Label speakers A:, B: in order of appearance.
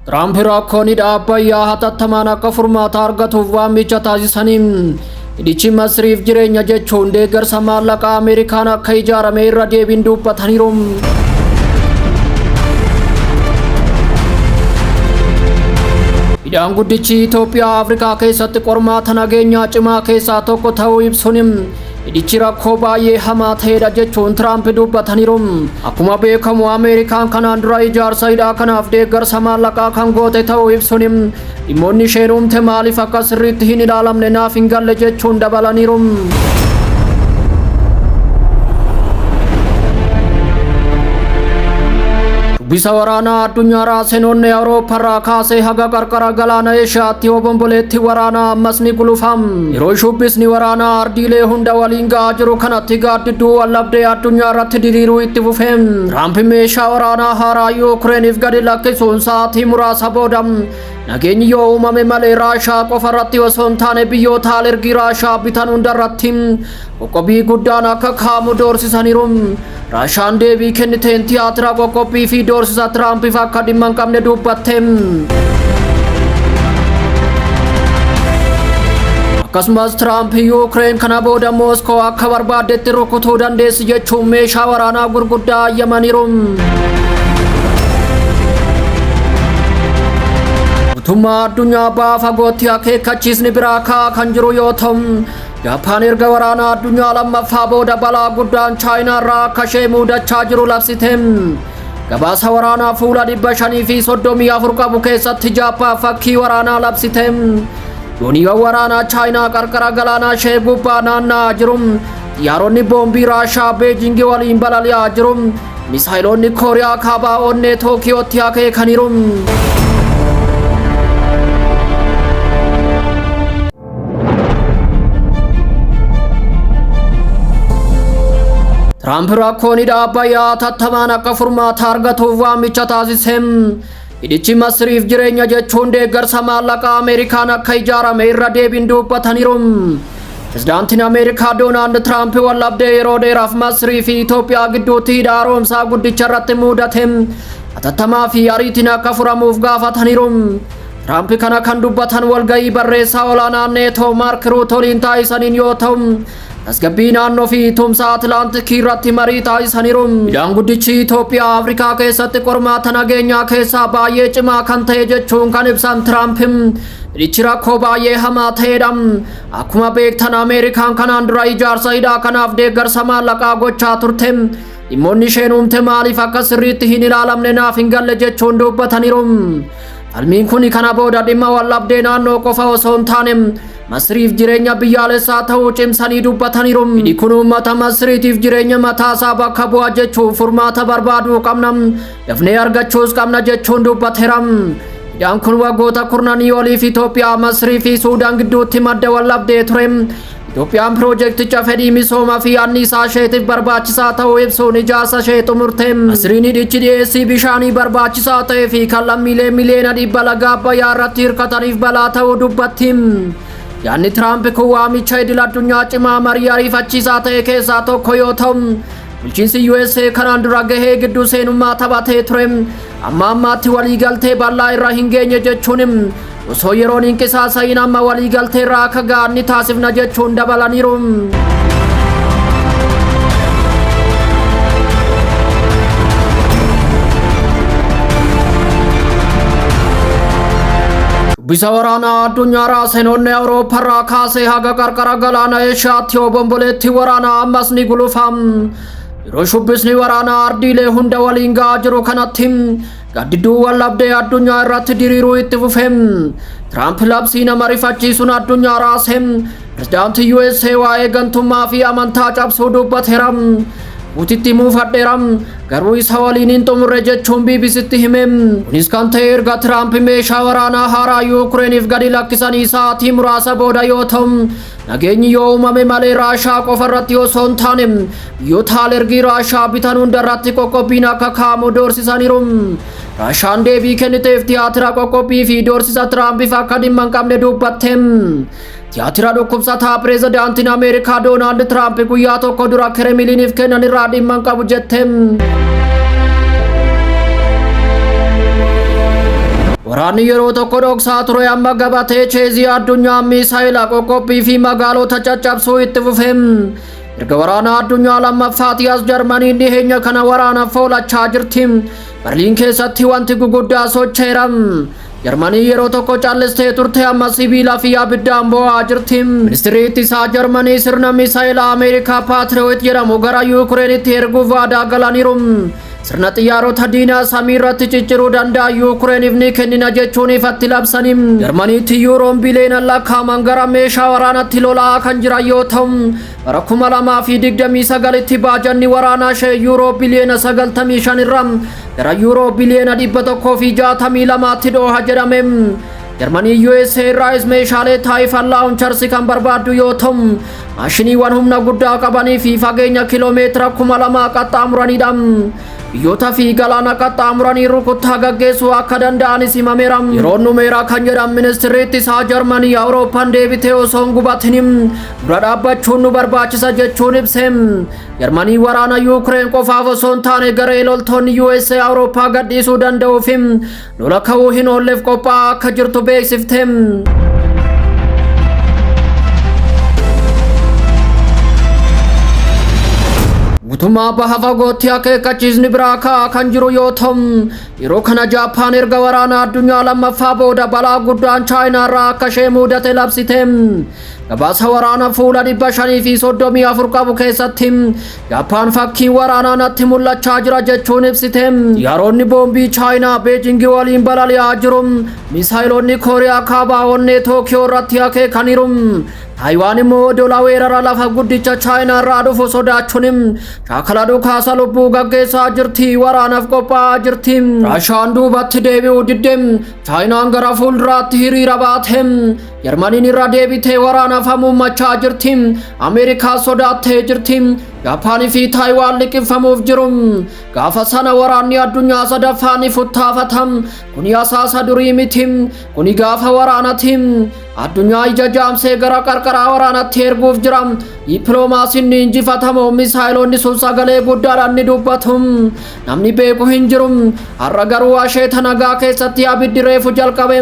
A: Tiraamp rakkoon hidha Abbayyaa hatattamaan akka furmaata argatuuf waamicha taasisaniin hidhichi Masriif jireenya jechuun deeggarsa maallaqaa Ameerikaan akka ijaarame irra deebiin dubbataniiru. Hidhaan guddichi Itoophiyaa Afrikaa keessatti qormaata nageenyaa cimaa keessaa tokko ta'uu ibsuun Hidhichi rakkoo baay'ee hamaa ta'edha jechuun Tiraamp dubbataniiru. Akkuma beekamu Ameerikaan kanaan dura ijaarsa hidhaa kanaaf deeggarsa maallaqaa kan goote ta'uu ibsuun dhimmoonni isheen uumte maaliif akka sirriitti hin ilaalamne naaf hin galle jechuun dabalaniiru. Dubbisa waraanaa addunyaa raasenoonni Awurooppaarraa kaasee haga qarqara galaana Eeshiyaatti obomboleetti waraanaa ammas ni gulufam. Yeroo shubbisni waraanaa ardiilee hunda waliin ga'aa jiru kanatti gaaddidduu wallabdee addunyaa irratti diriiruu itti fufe. Tiraamp meeshaa waraanaa haaraa Yuukireeniif gadi lakkisuun sa'aatii muraasa booda nageenyi yoo uumame malee Raashaa qofa irratti osoo hin taane biyyoota alergii Raashaa bitan hunda irratti Qoqqobbii guddaan akka kaamu doorsisaniiru. Raashaan deebii kenniteen tiyaatira qoqqobbii fi doorsisa Tiraampiif akka dhimma hin qabne dubbatte. Akkasumas Tiraamp Yuukireen kana booda Mooskoo akka barbaaddetti rukutuu dandeessi jechuun meeshaa waraanaa gurguddaa ayyamaniiru. Mootummaa addunyaa baha fagootti akeekkachiisni biraa ka'aa kan jiru yoo ta'u Jaappaan erga waraanaa addunyaa lammaffaa booda balaa guddaan Chaayinaa irraa akka ishee muudachaa jiru labsite. Gabaasa waraanaa fuula 534 qabu keessatti Jaappaan fakkii waraanaa labsite. Dooniiwwan waraanaa Chaayinaa qarqara galaanaa ishee gubbaa naanna'aa jiru. Xiyyaaronni boombii Raashaa Beejingi waliin balali'aa jiru. Misaayiloonni Kooriyaa kaabaa onnee Tookiyootti akeekaniiru. Tiraamp rakkoon hidha Abbayyaa hatattamaan akka furmaata argatuuf waamicha taasise. Hidhichi Masriif jireenya jechuun deeggarsa maallaqaa Ameerikaan akka ijaarame irra deebiin dubbataniiru. Pirezidaantiin Ameerikaa Doonaald Tiraamp waldhabdee yeroo dheeraaf Masrii fi Itoophiyaa gidduutti hidha haaromsaa guddicha irratti mudate hatattamaa fi ariitiin akka furamuuf gaafataniiru. Tiraamp kana kan dubbatan walga'ii barreessaa olaanaa neetoo Maark Ruut waliin taasisaniin yoo ta'u, tasgabbii naannoo fi tumsa Atilaantikii irratti marii taasisaniiru. Hidhaan guddichi Itoophiyaa Afrikaa keessatti qormaata nageenyaa keessaa baay'ee cimaa kan ta'e jechuun kan ibsan Tiraamp, hidhichi rakkoo baay'ee hamaa ta'edha. Akkuma beektan Ameerikaan kanaan dura ijaarsa hidhaa kanaaf deeggarsa maallaqaa gochaa turte. Dhimmoonni isheen uumte maaliif akka sirriitti hin ilaalamne naaf hin galle jechuun dubbataniiru. Falmiin kun kana booda dhimma waldhabdee naannoo qofa osoo hin taane Masriif jireenya biyyaalessaa ta'uu cimsanii dubbataniiru. Hidhi kun uummata Masriitiif jireenya mataasaa bakka bu'a jechuun furmaata barbaaduu qabna. Dafnee argachuus qabna jechuun dubbateera. Hidhaan kun waggoota kurnanii oliif Itoophiyaa, Masrii fi Suudaan gidduutti madda waldhabdee ture. Itoophiyaan piroojeekticha fedhii misoomaa fi anniisaa isheetiif barbaachisaa ta'uu ibsuun ijaarsa ishee xumurte. Asiriin hidhichi dhiyeessii bishaanii barbaachisaa ta'ee fi kan lammiilee miliyoona dhibba laga Abbayyaa irratti hirkataniif balaa ta'uu dubbatti. Yaadni Tiraamp kun waamicha idil addunyaa cimaa marii ariifachiisaa ta'e keessaa tokko yoo ta'u, bulchiinsi USA kanaan dura gahee gidduu seenummaa taphatee ture. Amma ammaatti waliigaltee bal'aa irra hin geenye jechuun Osoo yeroon hin qisaasa'iin amma waliigalteerra akka ga'an ni taasifna jechuun dabalaniiru. Shubbisa waraanaa addunyaa raasenoonni Awuroopparraa kaasee haga qarqara galaana Eeshiyaatti obomboleetti waraanaa ammas ni gulufa. Yeroo shubbisni waraanaa ardiilee hunda waliin ga'aa jiru kanatti Gaaddidduu waldhabdee addunyaa irratti diriiruu itti fufe. Tiraamp labsii nama rifachiisuun addunyaa raase. Pirezidaantii USA waa'ee gantummaa fi amantaa cabsuu dubbateera. Puutitti muufadheera. Garuu isa waliin hin xumurre jechuun BBCtti hime. Kunis kan ta'e erga Tiraamp meeshaa waraanaa haaraa Yuukireeniif gadi lakkisanii sa'aatii muraasa booda yoo ta'u, Nageenyi yoo uumame malee Raashaa qofa irratti osoo hin taane biyyoota alergii Raashaa bitan hunda irratti qoqqobbiin akka kaa'amu doorsisaniiru. Raashaan deebii kenniteef tiyaatira qoqqobbii fi doorsisa Tiraampiif akka dhimma hin qabne dubbatte. Tiyaatira dhukkubsataa pireezidaantiin Ameerikaa Doonaald Tiraamp guyyaa tokko dura Kiremiliiniif kennan irraa dhimma hin qabu jette. Waraanni yeroo tokko dhoksaa ture amma gabatee cheezii addunyaa miisaayila qoqqophii fi magaalota caccabsuu itti fufe. Erga waraana addunyaa lammaffaati as Jarmaniin dhiheenya kana waraana foolachaa jirti. Barliin keessatti wanti guguddaa socheera. Jarmanii yeroo tokko callistee turte amma sibiila fi abiddaan boo'aa jirti. Ministirri ittisaa Jarmanii sirna misaayila Ameerikaa Paatiriyoot jedhamu gara Yuukireenitti erguuf waadaa galaniiru. Sirna xiyyaarota diinaa samii irratti cicciruu danda'a Yuukireeniif ni kennina jechuun ifatti labsanii Jarmaniitti yuuroon biliyoonaan lakkaa'aman gara meeshaa waraanatti lola'aa kan jiran yoo ta'u bara 2029tti baajanni waraanaa ishee yuuroo biliyoona 95 irraa gara yuuroo biliyoona 162tti dhooha jedhame. Jarmanii USA irraayis meeshaalee taayifan laawuncharsi kan barbaaddu yoo ta'u Maashiniiwwan humna guddaa qabanii fi fageenya kiloomeetira kuma lamaa qaxxaamuranidha. Biyyoota fi galaana qaxxaamuranii rukuttaa gaggeessuu akka danda'anis himameera. Yeroon dhumeera kan jedhan ministirri ittisaa Jarmanii Awurooppaan deebitee osoo hin gubatin dura dhaabbachuun nu barbaachisa jechuun ibse. Jarmanii waraana Yuukireen qofaaf osoo hin taane garee loltoonni USA Awurooppaa gadhiisuu danda'uu fi Lola ka'uu hin oolleef qophaa'aa akka jirtu beeksifte. Guutummaa baha fagootti akeekkachiisni biraa ka'aa kan jiru yoo ta'u, yeroo kana Jaappaan erga waraana addunyaa lammaffaa booda balaa guddaan Chaayinaa irraa akka ishee mudate labsite. Gabaasa waraana fuula dhibba shanii fi soddomii afur qabu keessatti Jappaan fakkiin waraanaa natti mul'achaa jira jechuun ibsite. Xiyyaaronni boombii Chaayinaa Beejingi waliin balali'aa jiru. Misaayilonni Kooriyaa Kaabaa onnee Tookiyoo irratti akeekaniiru. Taayiwaan immoo odola weerara lafa guddicha Chaayinaa irraa dhufu sodaachuun shaakala dhukaasa lubbuu gaggeessaa jirti. Waraanaaf qophaa'aa jirti. Raashaan duubatti deebi'uu didde. Chaayinaan gara fuulduraatti hiriira baate. Jarmaniin irra deebitee waraanaaf hamuummachaa jirti. Ameerikaa sodaattee jirti. Jaappaanii fi Taayiwaan liqimfamuuf jiru. Gaafa sana waraanni addunyaa sadaffaa ni futtaafata. Kuni asaasa durii miti. Kuni gaafa waraanati. Addunyaa ija jaamsee gara qarqaraa waraanatti erguuf jira. Dippiloomaasiin ni injifatamoo misaayiloonni sun sagalee guddaadhaan ni dubbatu. Namni beeku hin jiru. Har'a garuu asheeta nagaa keessatti abiddi reefu jalqabe.